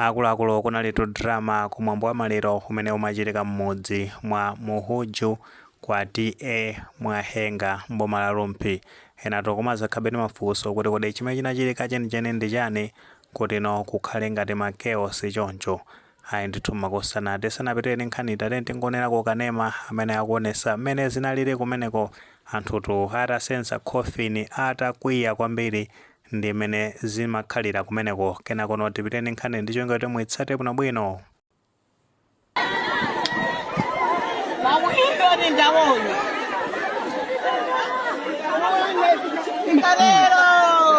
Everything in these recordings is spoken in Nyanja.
Akuluakulu kunalitu drama ku mwambo wa maliro umene umachitika mmudzi mwa Muhuju kwa TA Mwahenga m'boma la Rumphi. Enatu kumazakhabe ndi mafunso kuti kodi chimene chinachitika chenicheni ndi chani kutino kukhale ngati ma chaos choncho? Ayi ndithu makosana tisanapitire ndi nkhaniyi tatiyeni tingowonerako kanema amene akuwonesa mmene zinalili kumeneko anthutu atasenza coffin atakwiya kwambiri ndi mmene zimakhalira kumeneko kenakono tipitire ndi nkhani ndi cholinga kuti muitsate bwinobwino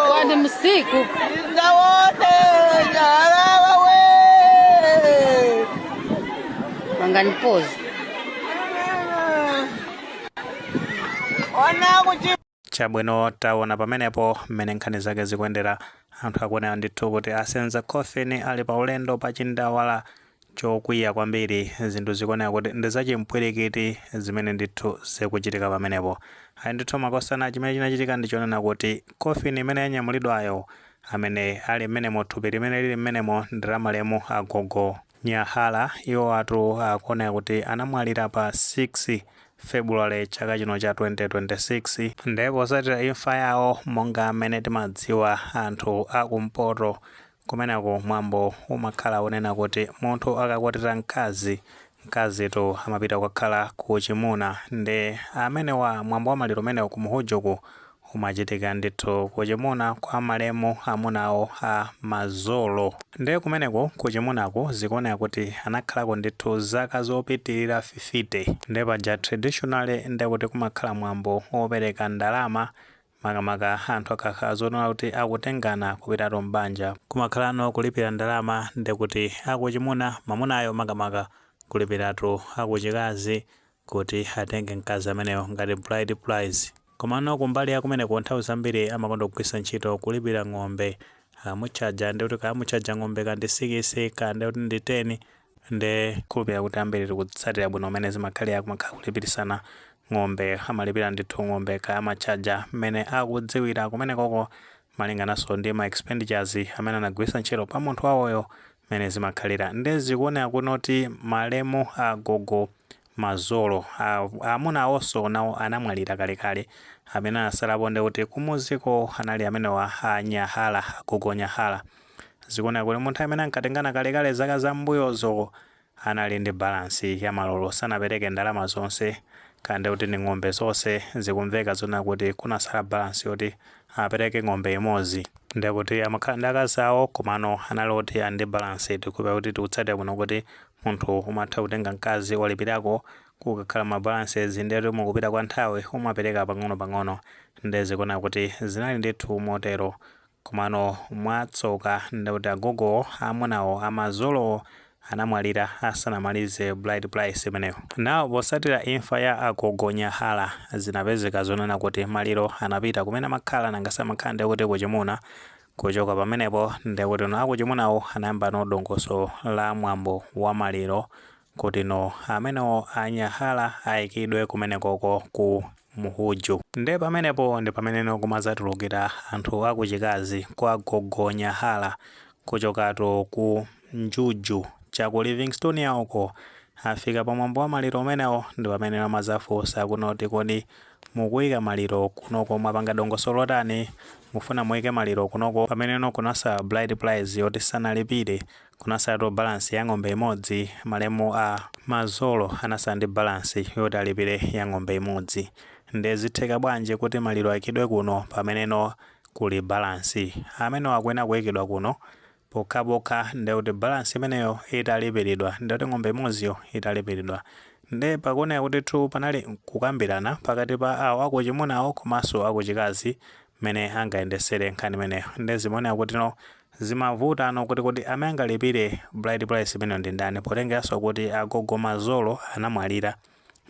Kwani msiku wanganipoza Ona kuti Chabwino, taona pamenepo mmene nkhani zake zikuyendera. Anthu akuonera ndithu kuti asenza coffin ali pa ulendo pa chindawala chokwiya kwambiri. Zinthu zikuoneka kuti ndi za chimpwirikiti zimene ndithu zikuchitika pamenepo. Ayi ndithu makosana, chimene chinachitika ndi chonena kuti coffin imene yanyamulidwayo, amene ali mmenemo, thupi limene lili mmenemo ndi la malemu agogo. Nyahala, iwowatu akuoneka kuti anamwalira pa 6 February chaka chino cha 2026 nde posatira imfa yawo monga mmene timadziwa anthu a ku mpoto kumeneku mwambo umakhala onena kuti munthu akakwatira mkazi, mkazitu amapita kukakhala ku uchimuna nde amenewa mwambo wa maliro umenewu ku Muhujuku Umachitika ndithu kuchimuna kwa malemu amuna awo a Mazolo. Nde kumeneko kuchimunaku zikuoneka kuti anakhalako ndithu zaka zopitilira fifite. Nde paja traditionally nde kuti kumakhala mwambo opereka ndalama makamaka anthu akakhala zonena kuti akutengana kupitatu m'banja. Kumakhalano kulipira ndalama nde kuti akuchimuna, mamunayo makamaka, kulipiratu akuchikazi kuti atenge mkazi ameneyo ngati bride price. Komano kumbali ya kumeneko nthawi zambiri amakonda kugwiritsa ntchito kulipira ng'ombe. Akamutchaja ndiye kuti kaya amutchaja ng'ombe kaya ndi sikisi, kaya ndiye kuti ndi teni, nde. khulupirira kuti ambiri tikutsatira bwino mmene zimakhalira kumakhala kulipirisana ng'ombe. Amalipira ndithu ng'ombe kaya amatchaja mmene akudziwira. Kumenekoko malingananso ndi ma expenditures amene anagwiritsa ntchito pa munthu wawoyo mmene zimakhalira nde zikuoneka kunena kuti malemu agogo Mazolo amuna awonso nawo anamwalira kalekale amene anasalapo nde kuti kumuziko anali amenewa a Nyahala agogo Nyahala zikuoneka kuti munthu amene ankatengana kalekale zaka zambuyozo anali ndi balance ya malolo sanapereke ndalama zonse kaya ndiye kuti ndi ng'ombe zonse zikumveka zonena kuti kunasala balance yoti apereke ng'ombe imodzi ndiye kuti amakhala ndi akazi awo komano anali oti ali ndi balance tikudziwa kuti tikatsatira bwino kuti munthu umatha kutenga mkazi walipirako kukakhala ma balances ndiye kuti mukupita kwa nthawi umapereka pang'onopang'ono ndiye zikuoneka kuti zinali ndithu motero Komano mwatsoka nde kuti agogowo amunawo a Mazolowo anamwalira asanamalize bride price imeneyo. Now posatira imfa ya agogo Nyahala zinapezeka zonena kuti maliro anapita kumene amakhala nanga samakhala ndekuti kuchimuna, kuchoka pamenepo ndekutino akuchimunawo anayambano dongosolo la mwambo wa maliro kutino amenewo a Nyahala aikidwe kumenekoko ku Mhuju. Nde pamenepo ndi pameneno kumadzatulukira anthu akuchikazi kwa gogo Nyahala kuchokatu ku Njuju cha ku Livingstonia uko. Afika pa mwambo wa maliro umenewo ndi pameneno amadzafunsano kuti kodi mukuika maliro kunoko mwapanga dongosolo lotani? Mufuna muike maliro kunoko? Pameneno kunasala bride price yoti sanalipire Kunasalatu balance ya ng'ombe imodzi, malemu a Mazolo anasala ndi balance yoti alipire ya ng'ombe imodzi. Nde zitheka bwanji kuti maliro aikidwe kuno pameneno kuli balance? Amenewo akuyenera kuikidwa kuno pokhapokha nde kuti balance imeneyo italipiridwa nde kuti ng'ombe imodziyo italipiridwa. Nde zikuoneka kutitu panali kukambirana pakati pa awo akuchimunawo komanso akuchikazi mmene angayendesere nkhani imeneyo. Nde zimaoneka kutino Zimavutano kuti kodi amene angalipire bride price imeneyo ndi ndani potengeraso kuti agogo Mazolo anamwalira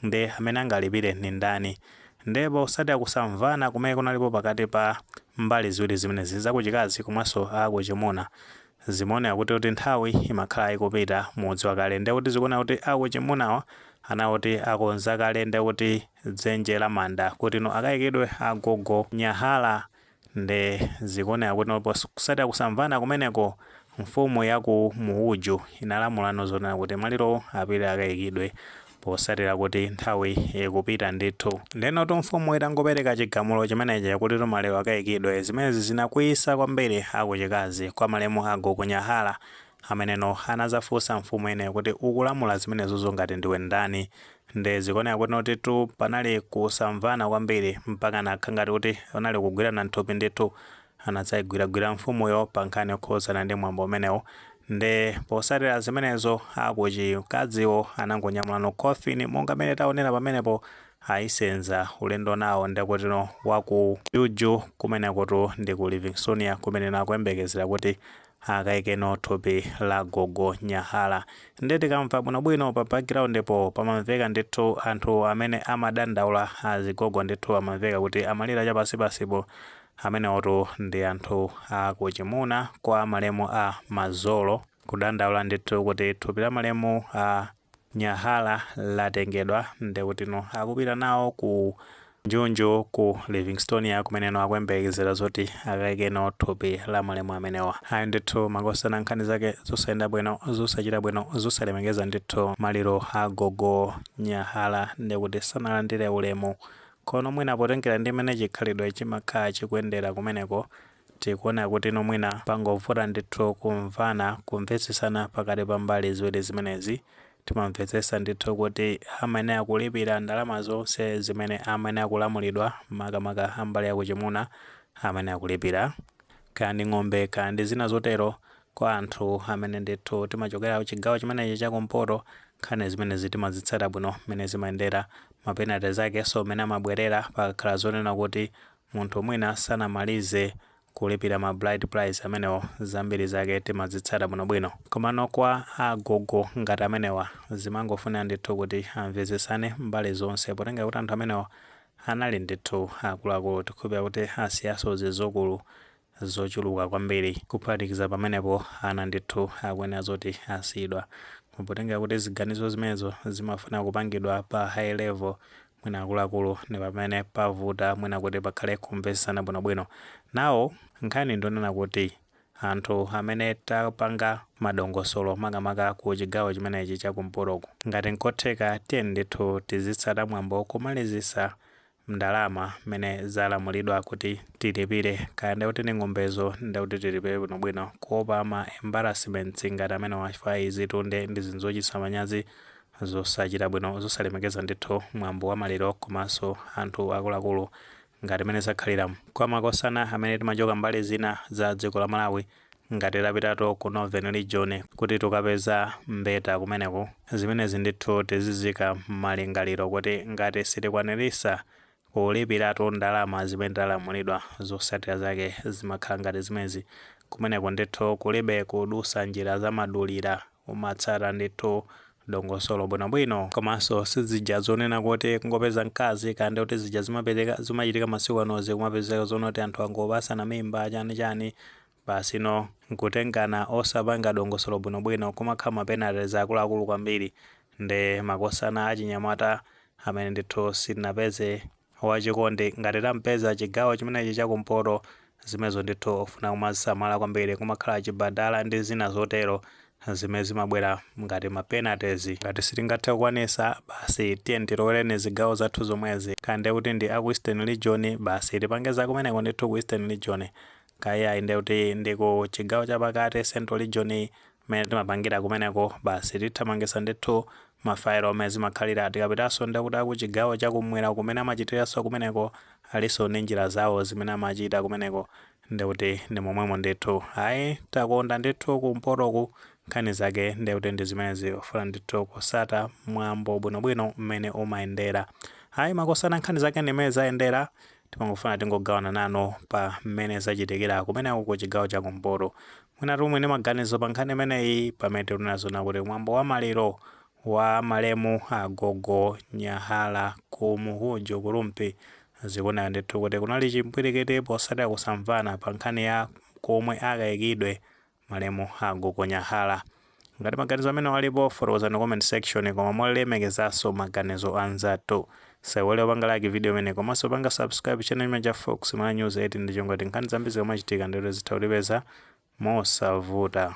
nde amene angalipire ndi ndani nde posatira kusamvana kumene kunalipo pakati pa mbali ziwiri zimenezi za kuchikazi komanso a kuchimuna zimaoneka kutitu nthawi imakhala ikupita mudziwa kale nde kuti zikuoneka kuti a kuchimunawa anali oti akonza kale nde kuti dzenje la manda kutino akaikidwe agogo Nyahala Nde zikuoneka kuti posatira kusamvana kumeneko, mfumu ya ku Mhuju inalamulano zonena kuti malirowo apite akaikidwe posatira kuti nthawi ikupita ndithu. Ndenotu mfumu itangopereka chigamulo chimenechi kutitu maliro akaikidwe, zimenezi zinakwiyisa kwambiri a kuchikazi kwa malemu a Gogo Nyahala, ameneno anazafunsa mfumu imeneyo kuti ukulamula zimenezozo ngati ndiwe ndani? Nde zikuoneka kutinotu panali kusamvana kwambiri mpaka zinakhala ngati kuti kunali kugwirana nthupi ndithu anadzaigwiragwira mfumuyo pa nkhani yokhudzana ndi mwambo umenewo nde posatira zimenezo akuchikaziwo anangonyamulano coffin monga mene taonera pamenepo ayisenza ulendo nawo ndekutino waku njuju kumenekotu ndi ku livingstonia kumeneno akuyembekezera kuti akaikeno thupi la gogo nyahala nde tikamva bwinobwino pa background po pamamveka ndithu anthu amene amadandaula azigogo ndithu amamveka kuti amalira chapansipansipo amenewotu ndi anthu akuchimuna kwa malemu a mazolo kudandaula ndithu kuti thupi la malemu a Nyahala latengedwa ndekutino akupita nawo ku Njunju ku Livingstonia kumeneno akuyembekezera zoti akaikeno thupi la malemu amenewa. Ayi ndithu makosana nkhani zake zosayenda bwino, zosachita bwino, zosalemekeza ndithu maliro a gogo Nyahala ndekuti sanalandire ulemu. Komano mwina potengera ndi mmene chikhalidwe chimakhala chikuyendera kumeneko Tikuona kutino mwina pangovuta ndithu kumvana, kumvetsetsana pakati pa mbali ziwiri zimenezi. Timamvetsetsa ndithu kuti amayenera kulipira ndalama zonse zimene amayenera kulamulidwa, makamaka a mbali ya kuchimuna amayenera kulipira, kaya ndi ng'ombe kaya ndi zina zotero, kwa anthu amene ndithu timachokera kuchigawo chimenechi cha kumpoto, nkhani zimenezi timazitsata bwino mmene zimayendera, ma penalties akenso mmene amabwerera pakakhala zonena kuti Munthu mwina sanamalize kulipira ma bride price amenewo zambiri zake timazitsata bwinobwino. Komano kwa a gogo ngati amenewa zimangofuna ndithu kuti amvetsetsane mbali zonse potengera kuti anthu amenewa anali ndithu akuluakulu. Tikukhulupirira kuti asiyanso zidzukulu zochuluka kwambiri kuphatikiza pamenepo ana ndithu akuyenera zoti asiyidwa potengera kuti ziganizo zimenezo zimafuna kupangidwa pa high level mwina akuluakulu ndi pamene pavuta mwina kuti pakhale kumvetsetsana bwinobwino ndiye nkhani ndi yonena kuti anthu amene tapanga madongosolo makamaka ku chigawo chimenechi cha kumpotoku ngati nkotheka tiyeni ndithu tizitsata mwambo kumalizitsa ndalama mmene zalamulidwa kuti tilipire kaya ndekuti ndi ng'ombezo ndekuti tilipire bwino bwino kuopa ma embarrassments ngati amenewa chifukwa izitu nde ndi zinthu zochititsa manyazi zosachita bwino zosalemekeza ndithu mwambo wa maliro komanso anthu akuluakulu ngati mmene zakhalilamu kwa makosana amene timachokera mbali zina za dziko la Malawi Ngati tapitano ku Northern region kuti tikapeze mbeta kumeneko, zimenezi ndithu tiziziika mmalingaliro kuti ngati sitikwaniritsa kulipiratu ndalama zimene talamulidwa, zotsatira zake zimakhala ngati zimenezi, kumeneko ndithu kulibe kudutsa njira zamadulira. umatsata ndithu dongosolo bwinobwino komanso sizija zonena kuti kungopeza mkazi kaya ndi kuti zija zimachitika masiku anozi kumapezeka zonena kuti anthu angopatsana mimba chani chani basi no nkutengana osapanga dongosolo bwinobwino kumakhala mapenalties akuluakulu kwambiri nde makosana achinyamata amene ndithu sitinapeze wachikondi. Ngati tapeza chigawo chimenechi cha kumpoto, zimenezo ndithu zofuna kumazisamala kwambiri. Kumakhala chibadala ndi zina zotero zimene zimabwera ngati ma penalties. Ngati sitingathe kukwanisa, basi tiyeni tilowere zigawo zathu zomwezi. Kaya ndiye kuti ndi a ku Eastern Region, basi tipange za kumeneko ndithu ku Eastern Region. Kaya iyayi ndiye kuti ndi ku chigawo chapakati, Central Region, mmene timapangira kumeneko basi tithamangisa ndithu ma file mmene zimakhalira tikapitanso nde kuti aku chigawo cha kumwera mmene amachitiranso kumeneko alinso ndi njira zawo zimene amachita kumeneko nde kuti ndi momwemo ndithu ayi takonda ndithu kumpotoku nkhani zake nde kuti ndi zimenezi zofuna ndithu kutsata mwambo bwinobwino mmene umayendera ayi makosana nkhani zake ndi mmene zayendera timangofuna tingogawana nanu pa mmene zachitikira kumeneko ku chigawo cha kumpoto Mwina timve ndi maganizo pa nkhani imeneyi pamene tikunena zona kuti mwambo wa maliro wa malemu agogo Nyahala ku Muhuju ku Rumphi zikuoneka ndithu kuti kunali chimpwirikiti potsatira kusamvana pa nkhani ya komwe akaikidwe malemu agogo Nyahala. Ngati maganizo amenewa alipo, fotokozani mu comment section koma molemekezanso maganizo a anzathu. Osaiwala kupanga like video imeneyi komanso kupanga subscribe channel chimenechi cha Fox Malawi News 8 ndi cholinga choti nkhani zambiri zikamachitika ndithu zitha kutipeza mosavuta.